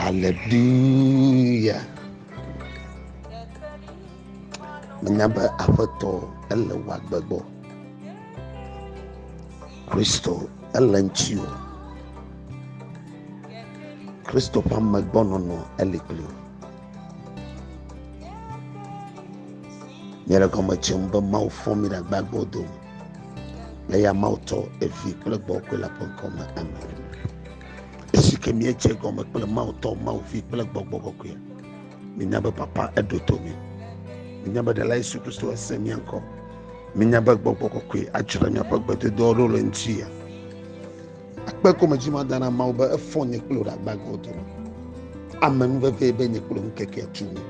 Haleluya! Menya be Aƒetɔ ele wò agbe gbɔ. Kristo ele ŋutiwò. Kristo ƒe amegbɔnɔnɔ eli kpli wò. Míele gɔme dzem be Mawu fɔ mí ɖe agbagba wo dome. Le ya Mawu tɔ evi kple gbɔgbɔ la ƒe ŋkɔ me. Amen. Esi ke míedze gɔme kple Mawu tɔ, Mawu vi kple gbɔgbɔ kɔkɔe. Mínya be papa eɖo to mí. Mínya be ɖela Yesu Kristo ese mía ŋkɔ. Mínya be gbɔgbɔ kɔkɔe adzra míaƒe gbedodoawo ɖo le ŋuti ya. Akpe ko medzi mada na Mawu be efɔ nye kple wò ɖe agbagbe wo dome. Ame nu veve be nye kple wò ŋkekea tu nye.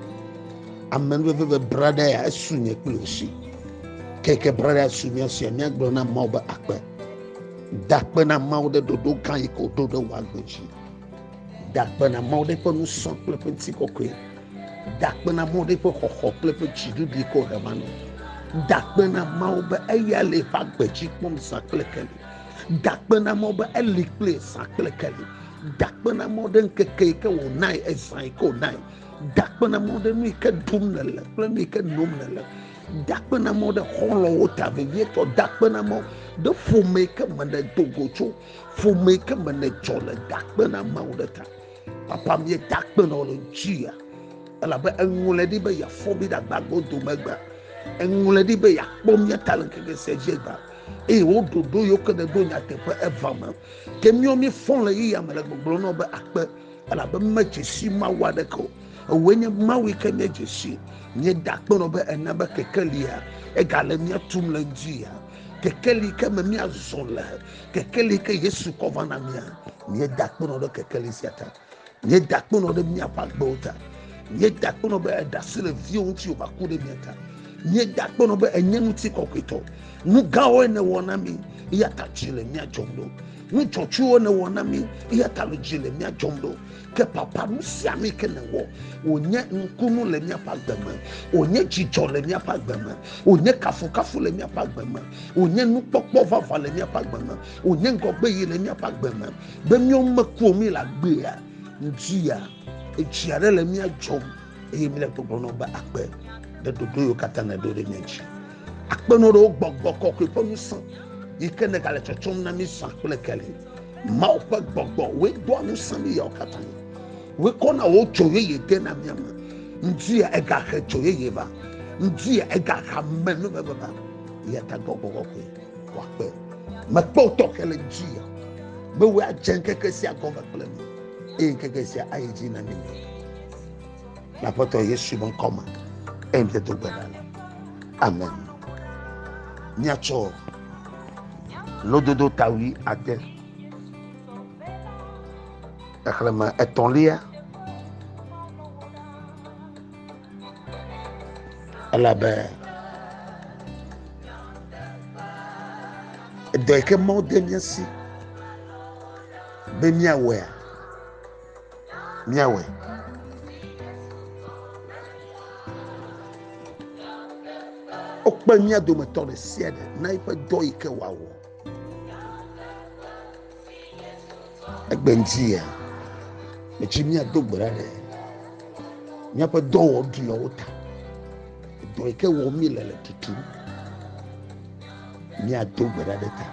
Ame nu veve be braɖa ya esu nye kple wò si. Keke braɖa ya su mía sia míagblɔ na Mawu be akpe. Dakpe na Mawu ɖe ɖoɖo gã yi ke wòɖo ɖe wò agbe dzi. Dakpe na Mawu ɖe ƒe nusɔ kple ƒe ŋutikɔkɔe. Dakpe na Mawu ɖe ƒe xɔxɔ kple ƒe dziɖuɖu yi ke wòɖe va nɔ. Dakpe na Mawu be eya le eƒe agbe dzi kpɔm zã kple keli. dakpenamɔ be eli kple zã kple keli dakpenamɔ ɖe ŋkeke yi ke wònae ezã yi ke wònae dakpenamɔ ɖe nu yi ke ɖum nèle kple nu yi ke nom nèle dakpenamɔ ɖe xɔlɔwo ta vevietɔ dakpenamɔ ɖe ƒome yi ke me nèdo go tso ƒome yi ke me nedzɔ le dakpenamɔwo ɖe ta papa mi dakpenɔ le dzia elabe eŋlɔe ɖi be yeafɔ mi ɖe agbagbo dome gba eŋlɔe ɖi be yeakpɔ mia ta le ŋkeke sia dzi gba eye wo ɖoɖo yewo ke ɖeɖo nyateƒe eva me ke míɔ mí fɔ le yi yame le gbɔgblɔ nɔ be akpe elabe me dzesi mawu aɖeke o ewoe nye mawu yi ke nye dzesi nye da akpe nɔ be ena be keke lia ega le mía tum le ŋdi ya keke li ke me mía zɔ le keke li ke yesu kɔ va na mía mía da akpe nɔ ɖe keke li sia ta Nye da kpenɔ ɖe miaƒe agbewo ta. Nye da kpenɔ be eɖe asi le viwo ŋuti wòva ku ɖe mia ta. Nye da kpenɔ be enye ŋuti kɔkɔetɔ. Nu gãwoe nèwɔ na mi, eya ta dzi le mia dzɔm ɖo. Nu dzɔtsuwo nèwɔ na mi, eya ta le dzi le mia dzɔm ɖo. Ke papa nu sia nu ke nèwɔ, wònye nukunu le miaƒe agbe me, wònye dzidzɔ le miaƒe agbe me, wònye kafukafu le miaƒe agbe me, wònye nukpɔkpɔ vavã le miaƒe agbe me, wònye ŋgɔgbe yi le miaƒe agbe me. Be míawo meku o, míele agbea ŋutia, edzi aɖe le mía dzɔm eye míele gbɔgblɔ nɔ be akpe ɖe ɖoɖo yiwo katã nèɖo ɖe mía dzi. Akpe nɔ ɖe wo gbɔgbɔ kɔkɔe ƒe ŋusẽ yi ke nègale tsɔtsɔm na mí zã kple keli. Mawu ƒe gbɔgbɔ, wòe doa ŋusẽ mí yawo katã. Wòe kɔna wò dzo yeye de na mía me. Ŋutia egahe dzo yeye va. Ŋutia egahe amenuveve va. Eya ta gbɔgbɔ kɔkɔe. wòakpe. Mekpe wò tɔxɛ le dzia, be wòe adze ŋkeke sia gɔme kple mi, eye ŋkeke sia ayi dzi na mi nɛ. Le Aƒetɔ Yesu ƒe ŋkɔ me, eye mede do gbe ɖa le. Amen. Míatsɔ lododo tawui ade xexlẽme etɔ̃lia. Elabe edɔ yi ke Mawu de mía si be míawɔea, míawɔe. Wokpe mía dometɔ ɖe sia ɖe na eƒe dɔ yi ke wòawɔ. Egbe ŋuti ya, metsi míado gbe ɖa ɖe míaƒe dɔwɔɖuiawo ta. Dɔ yi ke wɔm míele le tutum. Míado gbe ɖa ɖe ta.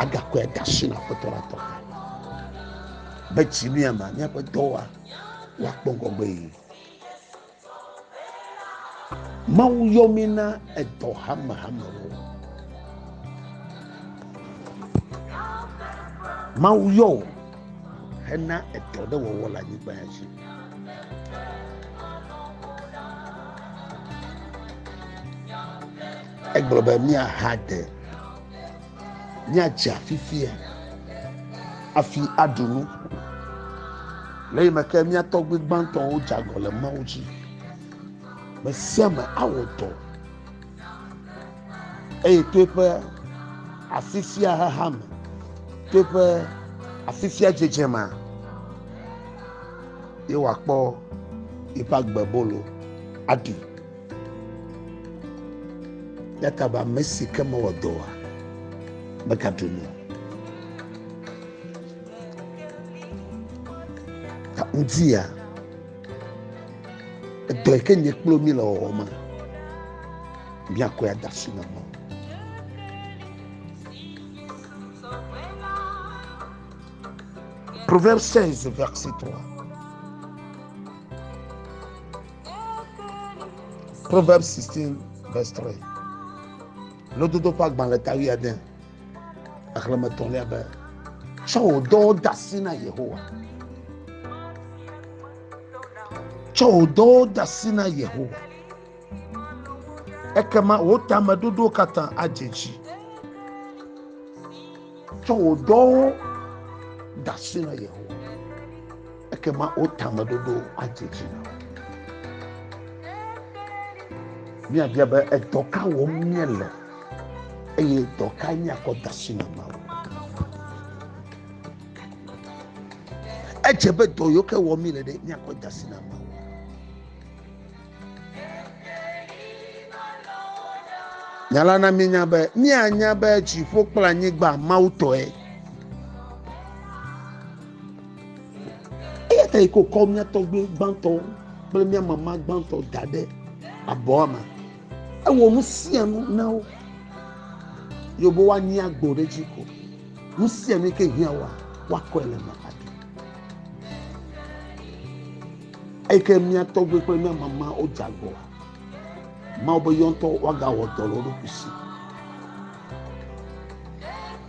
Agakɔe ade asi na Aƒetɔ la tɔ ta. Be tsi mía ma míaƒe dɔwɔa woakpɔ ŋgɔgbe yi. Mawu yɔ mí na edɔ hamehamewo. Mawu yɔ wò hena edɔ ɖe wɔwɔ le anyigba ya dzi. Egblɔ be míaha de Míadzea fifia afi aɖu nu. Le yi me ke mía tɔgbi gbãtɔwo dze agɔ le Mawu dzi. Me sia me awɔ dɔ eye to eƒe afi sia xexa me, to eƒe afi sia dzedze me, ye wòakpɔ eƒe agbebolo aɖi. Yata be ame si ke mewɔ dɔ oa, megaɖu nu o. Ta Udzia, edɔ yi ke nye kple mi le wɔwɔ me, míakɔe ada asi na Mawu. Proverbe 16, verset 3. Proverbs 16 verse 3. Lododo ƒe agbalẽ ta wi ade xexlẽme tɔlia be tsɔ wò dɔwo de asi na Yehowa. Tsɔ wò dɔwo de asi na Yehowa. Ekema wò tameɖoɖowo katã adze edzi. Tsɔ wò dɔwo de asi na Yehowa. Ekema wo tameɖoɖo adze dzi na wo. Míabia be edɔ ka wɔm míele eye dɔ ka míakɔ da asi na Mawu. Edze be dɔ yiwo ke wɔm míele ɖe míakɔ da asi na Mawu. Nya la na míenya be míanya be dziƒo kple anyigba Mawu tɔe. Eya ta yi ko kɔ mía tɔgbe gbãtɔ kple mía mama gbãtɔ da ɖe abɔa me. Ewɔ nu sia nu na wo. Yobo woanyi agbo ɖe dzi ko. Nu sia nu yi ke hiã woa, woakɔe le me. Eyi ke mía tɔgbui kple mía mama wodze agɔ. Mawu be yewo ŋutɔ woagawɔ dɔ le wo ɖokui si.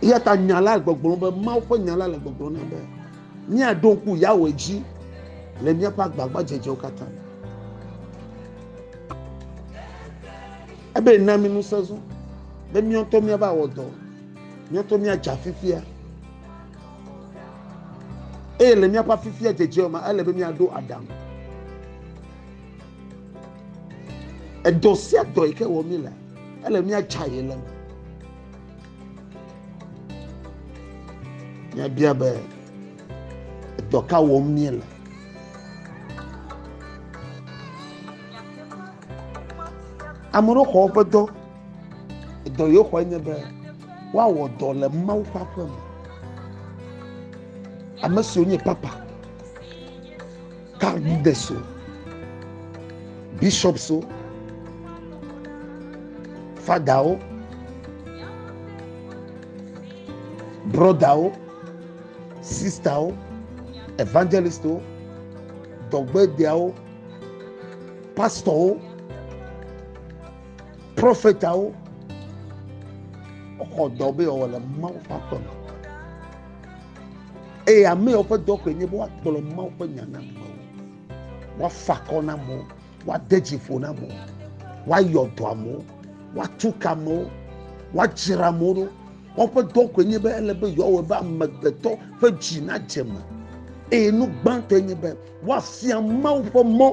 Eya ta nya la gbɔgblɔ be Mawu ƒe nya la le gbɔgblɔ na be míaɖo ŋku Yahweh dzi le míaƒe agbagbadzedzewo katã me. Ebe na mi ŋusẽ zɔ be míawo ŋutɔ míava wɔ dɔ, míawo ŋutɔ míadze afifia. Eye le míaƒe afifia dzedze me, ele be míaɖo aɖaŋu. Edɔ sia dɔ yi ke wɔ mí le, ele míatsa ye le me. Míabia be edɔ ka wɔm míele. Ame ɖewo xɔ woƒe dɔ. Dɔ yewo xɔe nye be woawɔ dɔ le Mawu ƒe aƒe me. Ame siwo nye papa, kardideswo, bishopswo, fadawo, brɔdawo, sistawo, evangelistwo, dɔgbedeawo, pastɔwo. Prɔfetawo xɔ dɔ be yeawɔ le Mawu ƒe aƒe me. Eye ame yawo ƒe dɔ koe nye be woagblɔ Mawu ƒe nya na amewo, woafa akɔ na amewo, woade dzi ƒo na amewo, woayɔ dɔ amewo, woatu ka amewo, woadzra amewo ɖo. Woƒe dɔ koe nye be ele be yewoawɔ be amegbetɔ ƒe dzi nadze me. Eye nu gbãtɔe nye be woafia Mawu ƒe mɔ.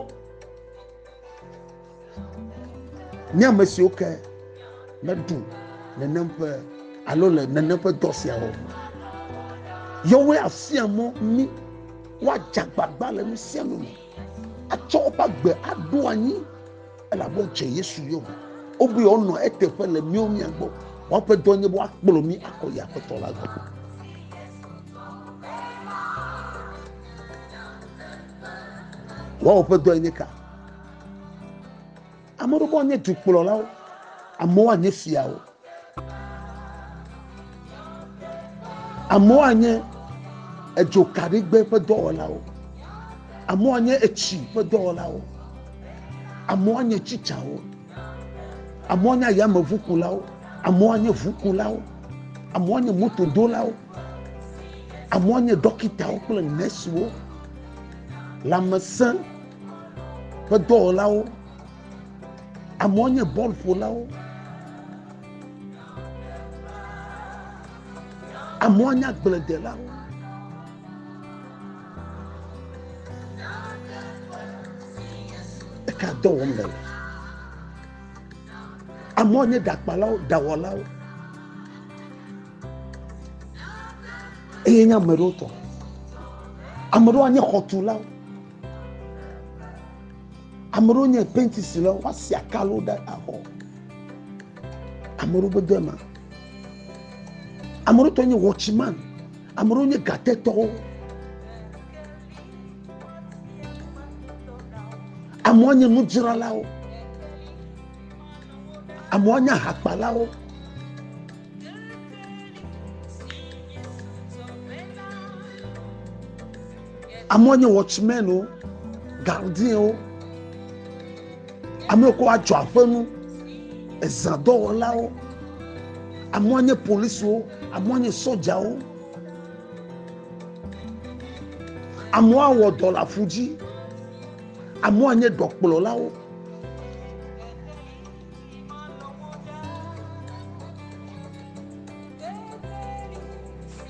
Nye ame siwo ke meɖu nenem ƒe alo le nenem ƒe dɔ sia wɔm. Yewoe afia mɔ mí woadze agbagba le nu sia nu me atsɔ woƒe agbe aɖo anyi elabe wodze Yesu yome. Wobu yewoanɔ eteƒe le míawo mía gbɔ. Woƒe dɔ nye be woakplɔ mí akɔ yi Aƒetɔ la gbɔ. Woawo ƒe dɔe nye ka? Ame aɖewo nye dukplɔlawo, amewo anye fiawo, amewo anye edzokaɖigbe ƒe dɔwɔlawo, amewo anye etsi ƒe dɔwɔlawo, amewo anye tsitsawo, amewo anye ayameʋukulawo, amewo anye ʋukulawo, amewo anye motodolawo, amewo anye ɖɔkitawo kple nɛsiwo, lãmesẽ. ƒe dɔwɔlawo amewo nye bɔlƒolawo amewo nye agbledelawo eka dɔ wɔm le le amewo nye ɖakpalawo ɖawɔlawo eye nye ame ɖewo tɔ ame ɖewo nye xɔtulawo Ame ɖewo nye penti si le woƒe asi akalo ɖe axɔ. Ame ɖewo gbede ma. Ame ɖewo tɔ nye wɔtsiman. Ame ɖewo nye gatetɔwo. Amewo nye nudzralawo. Amewo nye ahakpalawo. Amewo nye wɔtsimenwo, gardiewo, ame yiwo adzɔ aƒe nu, ezãdɔwɔlawo, amewo nye polisiwo, amewo nye sɔdzawo, amewo awɔ dɔ le aƒu dzi, amewo anye ɖɔkplɔlawo.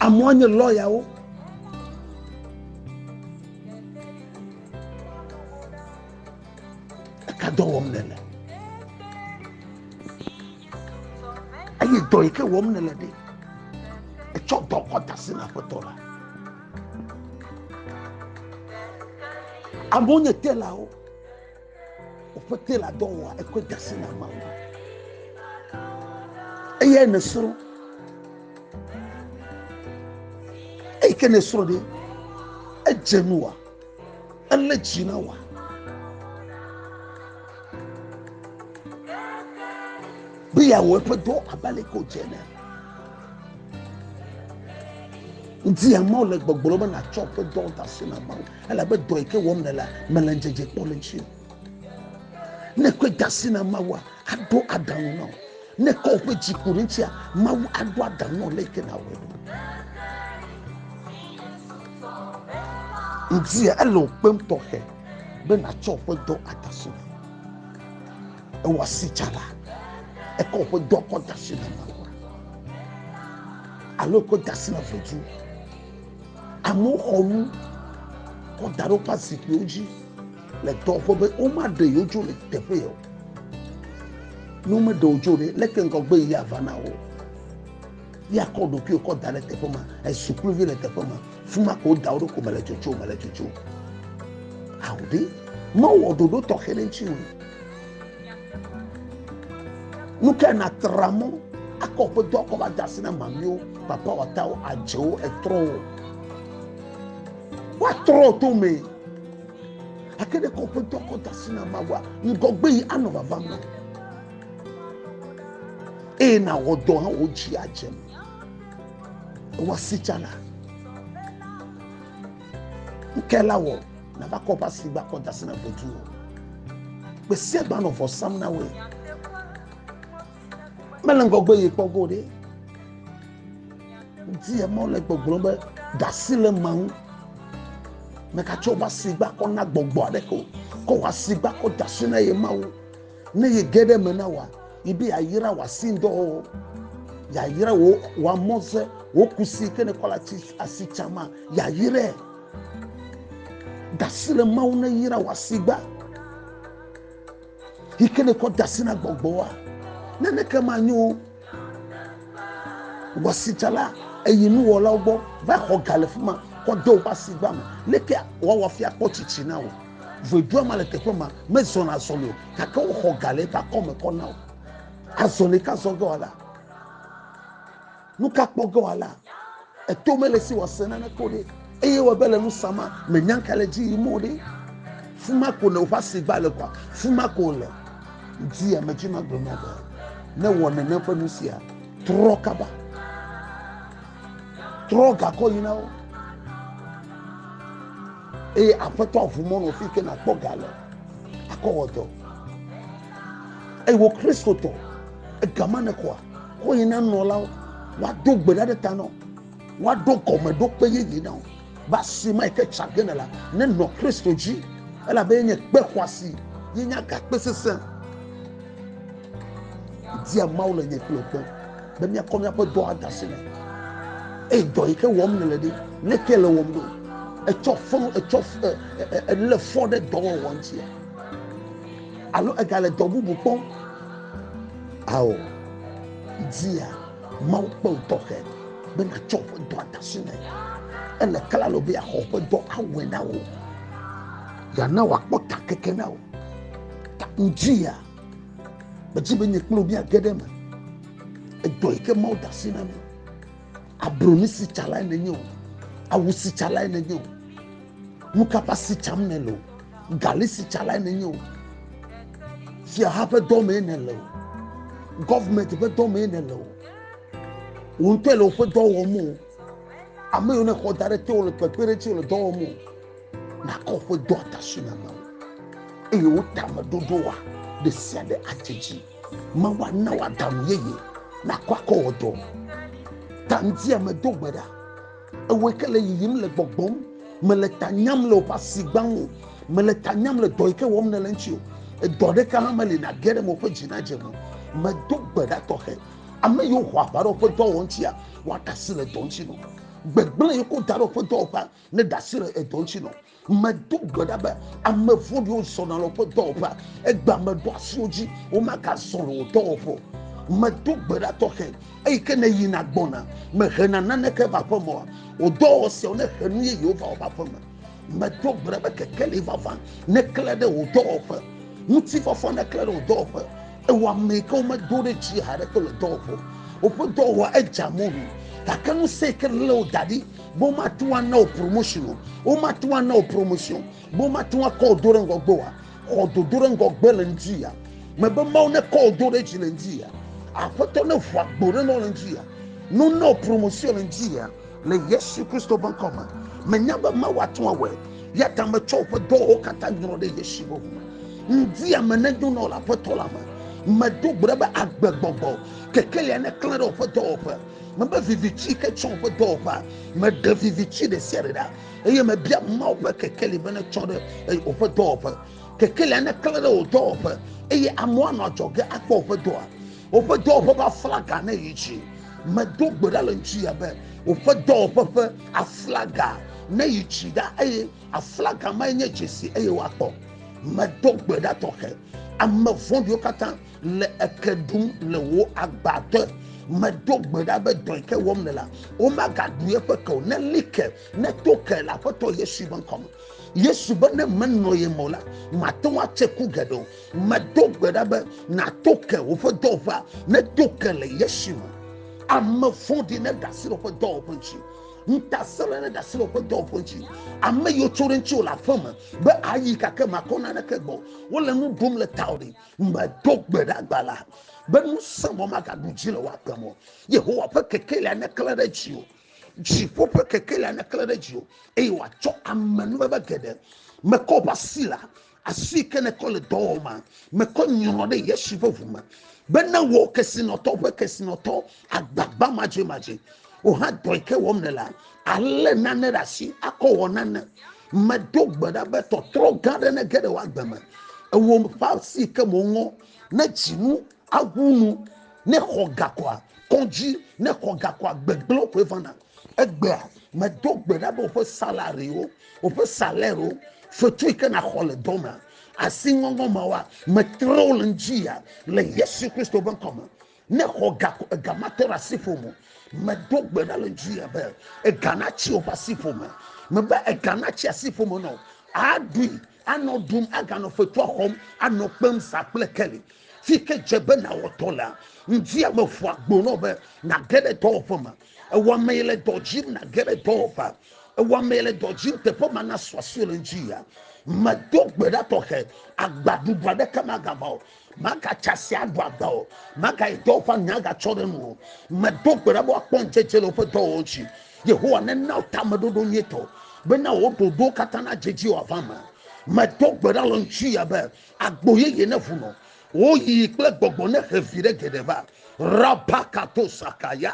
Amewo nye lɔyawo. Eka dɔ wɔm nele. Eye dɔ yi ke wɔm nele ɖe, etsɔ dɔ kɔ da asi na aƒetɔ la. Amewo nye telawo. Òƒete le adɔ wɔa ekpe dasi na ma wo. Eyae nèsrɔ̃. Eyi ke nèsrɔ̃ ɖe, edze nu wa, elé dzi na wa. Be yeawɔ eƒe dɔ abe ale ke wòdze ene. Ŋuti ya Mawu le gbɔgblɔ be nàtsɔ eƒe dɔ de asi na Mawu. Elabe dɔ yi ke wɔm nèlea, mèle ŋudzedze kpɔm le eŋuti o. Ne èkɔe de asi na Mawua, aɖo aɖaŋu na wò. Ne èkɔ wò ƒe dzi ku ɖe eŋutia, Mawu aɖo aɖaŋu na wò le yi ke nàwɔe ɖo. Ŋutia ele wò kpem tɔxɛ be nàtsɔ wò ƒe dɔ ada asi na Mawu. Ewɔ asi tsã la, ekɔ wò ƒe dɔ kɔ da asi na Mawua alo ekɔ da asi na vidzĩ. Amewo xɔ nu kɔ da ɖe woƒe zikpuiwo dzi le dɔwɔƒe be womaɖe yewo dzo le teƒe o. Ne womeɖe wo dzo ɖe, leke ŋgɔgbe yi ava na wo? Ya kɔ ɖokuiwo kɔ da ɖe teƒe ma, esukluvi le teƒe ma, fi ma ko da wo ɖo ko mele dzodzo, mele dzodzo. Ao ɖe, mewɔ ɖoɖo tɔxɛ ɖe ŋuti o. Nu kae nàtra mɔ akɔ woƒe dɔ akɔ va de asi na mamiwo, papawɔtawo, adzewo, etrɔwo? Woatrɔ to me gake ɖe kɔ woƒe dɔ akɔ de asi na Mawua ŋgɔgbe yi anɔ vava me eye nàwɔ dɔ hã wò dzi adze me. Ewa si tsana. Nu kae la wɔ? Nava kɔ ʋa si gbakɔ da sena gbedu o. Gbe sia gbe anɔ vɔ sam na woe. Mele ŋgɔgbe ye kpɔ go ɖe. Di ye mɔ le gbɔgblɔ be ɖasi le ma ŋu. Mekatsɔ ʋa si gbakɔ na gbɔgbɔ aɖeke o. Kɔ ʋa si gbakɔ da si na ye ma ŋu. Ne ye ge ɖe me na wòa, yi be yeayra wòa si ŋdɔ o. Yeayra wò wòa mɔze, wò kusi ke nèkɔ le asi tsã ma, yeayrae. Dasi le Mawu ne yra wò asigba. Yi ke nekɔ dasi na gbɔgbɔa, naneke manyo wɔsitsala eyi nuwɔlawo gbɔ va xɔ ga le fi ma kɔ de woƒe asigba me. Leke woawɔ afi akpɔ tsitsi na wò? Ʋedua ma le teƒe ma mezɔna azɔli o, gake woxɔ ga le eƒe akɔme kɔ na wò. Azɔli ka zɔ ge wòala? Nu ka kpɔ ge wòala? Eto mele si wòase naneke o ɖe, eye wɔ be le nu sa ma mènya nu ka le edzi yim o ɖe. Fu ma ko nèwɔ ƒe asi gba le kɔa? Fu ma ko wòle. Di ame dzi magblɔ na be ne wɔ nenem ƒe nu sia, trɔ kaba. Trɔ gakɔ yi na wo. Eye aƒetɔ aʋu mɔ nɔ fi ke nàkpɔ ga le akɔ wɔ dɔ. Eye wò Kristotɔ, egama nèxɔa? Kɔ yi na nɔlawo, woado gbe ɖa ɖe ta na wo, woaɖo gɔmeɖokpe yeye na wo. Be asi ma yi ke tsa ge ne la, nenɔ Kristo dzi, elabe yenye kpe xɔasi, yenye agakpe sesẽ. Dia Mawu le nye kple gbɔ be míakɔ míaƒe dɔ ade asi nɛ. Eye dɔ yi ke wɔm nèle ɖi, leke le wɔm ɖo? Etsɔ fɔ, etsɔ elé fɔ ɖe dɔwɔwɔ ŋuti alo egale dɔ bubu kpɔm? Ao, dzia Mawu kpe wò tɔxɛ be nàtsɔ ƒe dɔa de asi nɛ. Ele klalo be yeaxɔ ƒe dɔ awɔe na wò. Yeana wòakpɔ ta keke na wò. Ta ŋudzia, medzi be nye kple wò míage ɖe eme. Edɔ yi ke Mawu de asi na mi. Abroni si tsa lae nenye o. Awu si tsa lae nenye o. Nu ka ƒe asi tsam nèle o. galisitsalae nenye o fiaha ƒe dɔmee nele o gɔvmenti ƒe dɔmee nele o wò ŋutɔe le woƒe dɔ wɔm o ame yiwo nexɔ da ɖe te wole kpekpe ɖe tse le dɔ wɔm o nakɔ woƒe dɔ atasi na mawu eye wo tame ɖoɖo wa ɖe sia ɖe adze dzi mawu ana wɔ aɖaŋu yeye nakɔ akɔ wɔ dɔ tanti ame do gbe ɖa. ewɔe ke le yiyim le gbɔgbɔm mele ta nyam le woƒe asi gbã ŋu mele ta nyam le dɔ yi ke wɔm nele ŋuti o edɔ ɖeka hã meli nage ɖe me woƒe dzi nadze me medo gbe ɖa tɔxɛ ame yiwo ho aʋa ɖe woƒe dɔwɔwɔ ŋutia woaɖe asi le dɔ ŋuti nɔ gbegblẽ yiwo ko da ɖe woƒe dɔwɔƒea ne ɖe asi le edɔ ŋuti nɔ Medo gbe ɖa be ame vɔ̃ɖiwo zɔna le woƒe dɔwɔƒea, egbea meɖo asi wo dzi, womagazɔ le wò dɔwɔƒe o. Medo gbe ɖa tɔxɛ, eyi ke nèyina gbɔna, mèhena naneke va aƒeme oa? Wò dɔwɔwɔ siawo nehe nu yeyewo va woƒe aƒeme. Medo gbe ɖa be kekeli vavã neklẽ ɖe wò dɔwɔƒe, ŋutifafa neklẽ ɖe wò dɔwɔƒe, ewɔ ame yi ke womedo ɖe dzi haɖeke o le dɔwɔƒe o. Woƒe dɔwɔwɔa edze amɔ̃ wu, gake ŋusẽ yi ke lé wo da ɖi Bo matu ana wò promotion o. Wo matu ana wò promotion. Bo matu akɔ wò do ɖe ŋgɔ gbe wa. Xɔ dodo ɖe ŋgɔ gbe le ŋdi ya. Mebe Mawu ne kɔ wò do ɖe dzi le ŋdi ya. Aƒetɔ ne ʋua gbo ɖe nɔ le ŋdi ya. No na wò promotion le ŋdi ya. Le Yesu Kristo be ŋkɔ me. Menya be Mawu atɔ awɔe. Ya ta me tsɔ woƒe dɔwɔwo katã nyrɔ ɖe Yesu be ŋu me. Ŋdi ya me ne do nɔ le aƒetɔ la me. Me do gbe ɖe be agbegbɔgbɔ kekelia ne klẽ ɖe woƒe dɔwɔƒe. mebe viviti yi ke tsɔ woƒe dɔwɔƒea meɖe viviti ɖe sia ɖe ɖa eye mebia mawo ƒe kekeli be netsɔ ɖe woƒe dɔwɔƒe kekelia neklẽ ɖe wò dɔwɔƒe eye amewo anɔ adzɔge akpɔ woƒe dɔa woƒe dɔwɔƒe ƒe aflaga ne yi dzi medo gbe ɖa le ŋuti ya be woƒe dɔwɔƒe ƒe aflaga ne yi dzi ɖa eye aflaga ma nye dzesi eye woakpɔ medo gbe ɖa tɔxɛ ame vɔ̃ɖiwo katã le eke ɖum le wò agba te medo gbe ɖa be dɔe ke wɔm le la womagaɖu eƒe ke o ne li ke ne to ke le aƒetɔ yesu ƒe ŋkɔ me yesu be ne menɔ ye me o la mate ŋu atse ku geɖe o medo gbe ɖa be nato ke woƒe dɔwɔƒea ne to ke le yesu me ame vɔ̃ɖi ne ɖe asi ɖe woƒe dɔwɔƒe ŋuti ŋutasẽla ne ɖe asi ɖe woƒe dɔwɔƒe ŋuti ame yiwo tso ɖe ŋuti wò le aƒeme be ayi gake makɔ naneke gbɔ wole nu ɖum le tawò ɖi medo gbe ɖe agba la be ŋusẽ mɔ magaɖu dzi le woaƒe mɔ yehowa ƒe kekelia neklẽ ɖe dzi o dziƒo ƒe kekelia neklẽ ɖe dzi o eye wòatsɔ amenuveve geɖe mekɔ ƒe asi la asi ke nekɔ le dɔwɔma mekɔ nyrɔ ɖe yesu ƒe ʋu me bena wò kesinɔtɔ ƒe kesinɔtɔ agbagba madzemadzee o hã dɔ yi ke wɔm nèlea alé nane ɖe asi akɔ wɔ nane medo gbe ɖa be tɔtrɔ gã aɖe nege ɖe woagbe me ewɔ ƒe asi ke mo ŋɔ ne dzinu awu nu ne xɔ gakɔa kɔdzi ne xɔ gakɔa gbegblẽ koe vana egbea medo gbe ɖa be woƒe salariwo woƒe salɛro fetu yi ke naxɔ le dɔ me asi ŋɔŋɔ ma wa metrɔ le ŋdzi ya le yesu kristo ƒe ŋkɔ me Ne xɔ ga ko ega mate ɖe asiƒo mo. Medo gbe ɖa le dzi be ega natsi woƒe asiƒo me. Mebe ega natsi asiƒo me nɔ. Aɖui, anɔ ɖum, aganɔ fetua xɔm, anɔ kpem sa kple keli. Fi ke dze be nawɔtɔ lea, ŋdi ame ƒua gbo nɔ be nage ɖe dɔwɔƒe me. Ewɔ ame yi le dɔ dzim nage ɖe dɔwɔƒe. Ewɔ ame yi le dɔ dzim teƒe ma nasɔ asi le ŋdi ya. Medo gbe ɖa tɔxɛ, agbaɖuɖu aɖeke magava o. magatsa si aɖo agba o magayi dɔ woƒe anya agatsɔ ɖe nu o medo gbe ɖa be woakpɔ ŋudzedze le woƒe dɔwɔwɔ ŋuti yehowa nena wo tameɖoɖo nyuitɔ bena wò ɖoɖowo katã nadze dzi wòava me medo gbe ɖa le ŋutsuya be agbo yeye neʋu nɔ woyiyi kple gbɔgbɔ nehe vi ɖe geɖe va rabakatosakaya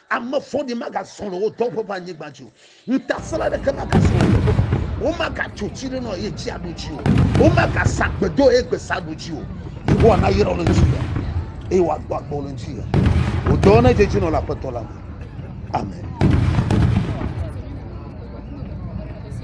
Ame vɔ̃ɖi magazɔ le wò dɔwɔƒe ƒe anyigba dzi o. Ŋutasẽla aɖeke magazɔ le wò dɔwɔƒe. Womagatso tsi ɖe nɔ eye tsi aɖo dzi o. Womagasa agbedo eye gbesa aɖo dzi o. Yehowa nayra wò le ŋutilã eye wòagbɔ agbe wò le ŋutilã. Wò dɔwo nedze edzi nɔ le Aƒetɔ la me. Amen.